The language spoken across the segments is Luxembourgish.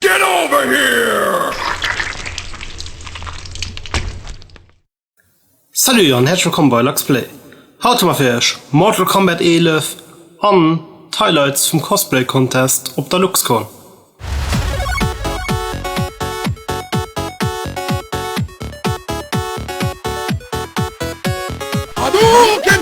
Get over here! Salut an herrlech wëllkomm bei Luxplay. Haut hu mer fir iech Mortal Kombat 11 an d'Highlights vum Cosplay Contest op der Luxcon. Hadouken!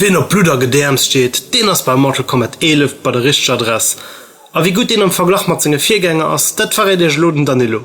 Wien op Blutt a Gedäerms steet, deen ass bei Mortal Kombat 11 bei der richteger Adress. A wéi gutt deen am Verglach mat senge Virgänger ass, dat verréit iech elo den Danilo.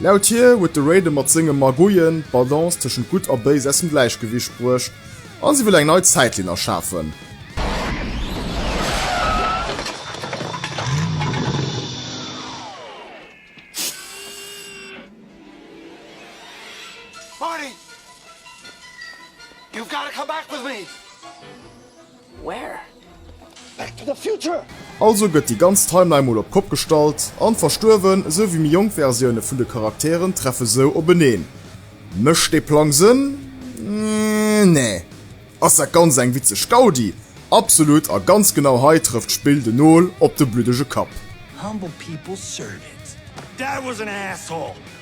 Laut hir huet de Raiden mat senge Magouillen d'Balance tëschent Gutt a Béis aus dem Gläichgewicht bruecht a si wëll eng nei Zäitlinn erschafen. Also gëtt déi ganz Timeline mol op d'Kopp gestallt an verstuerwen, esou wéi méi jonk Versioune vun de Charakteren treffe sou openeen. Mécht dee Plang Sënn? Nee. Ass dat Ganzt eng witzeg Gaudi? Absolut a ganz genau hei trëfft d'Spill den Nol op de bluddege Kapp.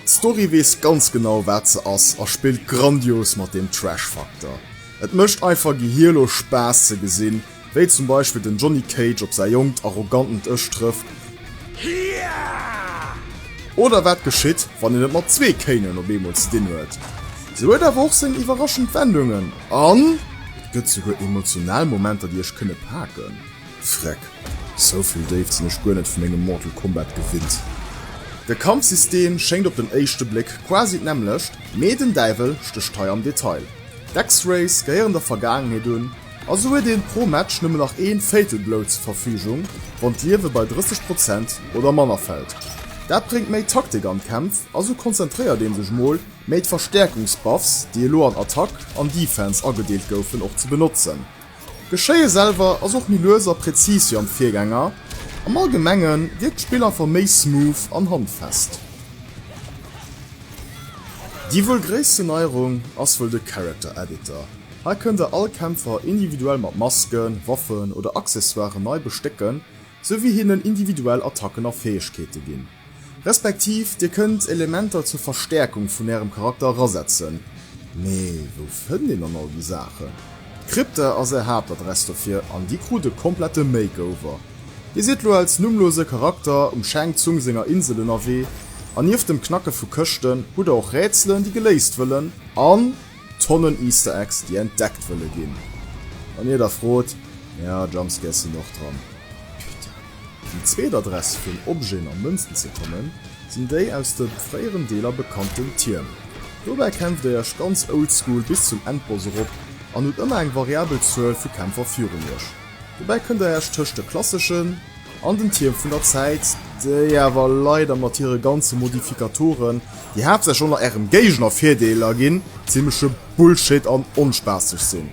D'Story weess ganz genau wat se ass a spillt grandios mat deem Trash-Faktor. Et mécht einfach gehierlos Spaass ze gesinn, wéi zum Beispill den Johnny Cage op säi jonkt, arrogantent Ech trëfft. Oder wat geschitt, wann een et mat zwee Kanen op eemol ze dinn huet. Se huet awer och seng iwwerraschend Wendungen an et gëtt souguer emotional Momenter, déi iech kënne paken. Freck, souvill Déift sinn ech guer net vu mengem Mortal Kombat gewinnt. De Kampfsystem schéngt op den éischte Bléck quasi d'nämmlecht, mee den Däiwel stécht hei am Detail. D'X-Rays gehéieren der Vergaangenheet un, a sou huet een pro Match nëmmen nach een Fatal Blow zur Verfügung, wann d'Liewe bei 30 Prozent oder manner fält. Dat bréngt méi Taktik an d'Kämpf, a sou konzentréiert een sech mol méi d'Verstäerkungs-Buffs, déi elo an Attack an Defense agedeelt goufen, och ze benotzen. D'Geschéie selwer ass och méi lues a präzis wéi am Virgänger, am Allgemenge wierkt d'Spill einfach méi smooth an handfest. Déi wuel gréissten Neierung ass wuel de Character Editor. Hei kënnt der all Kämpfer individuell mat Masken, Waffen oder Accessoiren nei bestécken, sou wéi hinnen individuell Attacken a Fäegkeete ginn. Respektiv dir kënnt Elementer zur Verstäerkung vun ärem Charakter erasetzen. Mee wou fënnt een dann all déi Saachen? D'Krypta ass är Haaptadress dofir an dir krut e komplette Makeover. Dir sidd lo als nummlose Charakter um Shang Tsung senger Insel ënnerwee an nieft dem Knacke vu Këschten hutt der och Rätselen déi geléist wëllen an Tonnen Easter Eggs déi entdeckt wëlle ginn. Wann dir da frot, jo, Jumpscares sinn och dran. Putain. Déi zweet Adress fir un Objeten a Mënzen ze kommen, sinn déi aus de fréieren Deeler bekannten Tierm. Dobäi kämpft der iech ganz oldschool bis zum Endboss erop an hutt ëmmer eng variabel Zuel vu Kämpfer virun iech. Dobäi kënnt der iech tëscht de klasseschen an den Tierm vun der Zäit, déi awer leider mat hire ganze Modifikatoren, déi haaptsächlech och nach ärem Géigner Virdeeler ginn, zimmleche Bullshit an onspaasseg sinn.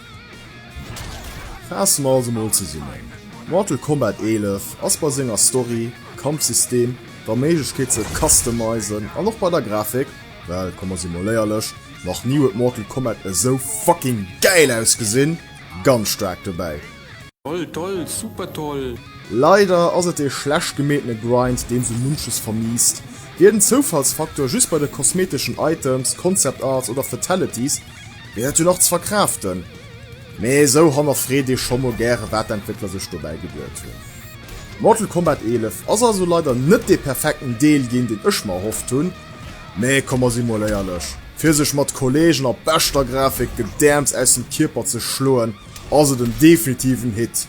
Faasse mer also mol zesummen, Mortal Kombat 11 ass bei senger Story, Kampfsystem, der Méiglechkeet ze customizen an och bei der Grafik, well komme si mol éierlech, nach ni huet Mortal Kombat esou fucking gäil ausgesinn, ganz staark dobäi. Toll, toll, super toll! Leider ass et ee schlecht gemeetene Grind, deen sou munches vermiisst. Wier den Zoufallsfaktor just bei de kosmeteschen Items, Concept Arts oder Fatalities, Wier dat jo nach ze verkraaften, mee esou hannerfreet ee scho mol gäre wat d'Entwéckler sech dobäi geduet hunn. Mortal Kombat 11 ass also leider net dee perfekten Deel ginn, deen ech mer erhofft hunn, mee komm mer si mol éierlech, fir sech mat Kolleegen a beschter Grafik gedäerms aus dem Kierper ze schloen, ass et en definitiven Hit.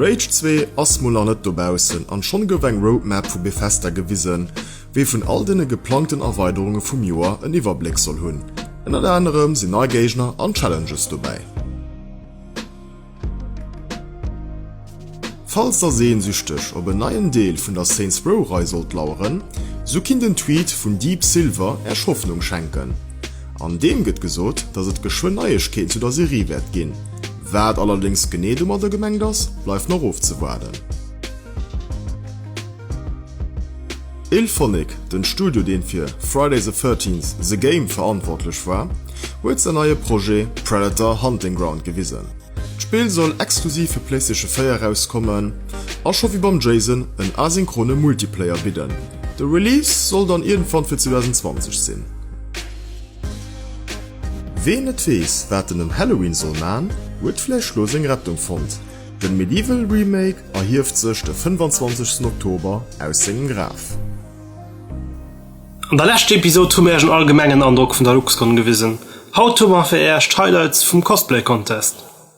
Rage 2 ass mol nach net dobaussen an schonn gouf eng Roadmap vu Bethesda gewisen, wéi vun all den geplangten Erweiderunge vum Joer en Iwwerbléck soll hunn. Ënnert anerem sinn nei Géigner an Challenges dobäi. Falls der sehnsüchteg op en neien Deel vun der Saints Row Rei sollt laueren, sou kinnt en Tweet vun Deep Silver Äech Hoffnung schenken. An deem gëtt gesot, dass et geschwënn Neiegkeeten zu der Serie wäert ginn. Wat allerdéngs genee domadder gemengt ass, bleift nach ofzewaarden. Ilphonic, den Studio deen fir Friday the Thirteenth, The Game verantwortlech war, huet säin neie Projet Predator Hunting Ground gewisen. D'Spill soll exklusiv fir Playstation 4 erauskommen a scho wéi beim Jason en asynchrone Multiplayer bidden. De Release soll dann iergendwann fir 2020 sinn. Ween net weess wat en ëm Halloween soll man, huet vläicht lo seng Rettung fonnt, den Medieval Remake erhieft sech de 25 Oktober aus sengem Graf. An der leschter Episode hu mir Iech en allgemengen Androck vun der LuxCon gewisen. Haut hu mer fir Iech d'Highlights vum Cosplay Contest.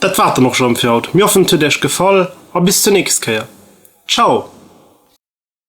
Dat war et dann och schon fir haut. Mir hoffen et huet Iech gefall a bis zur nächst Kéier. Ciao!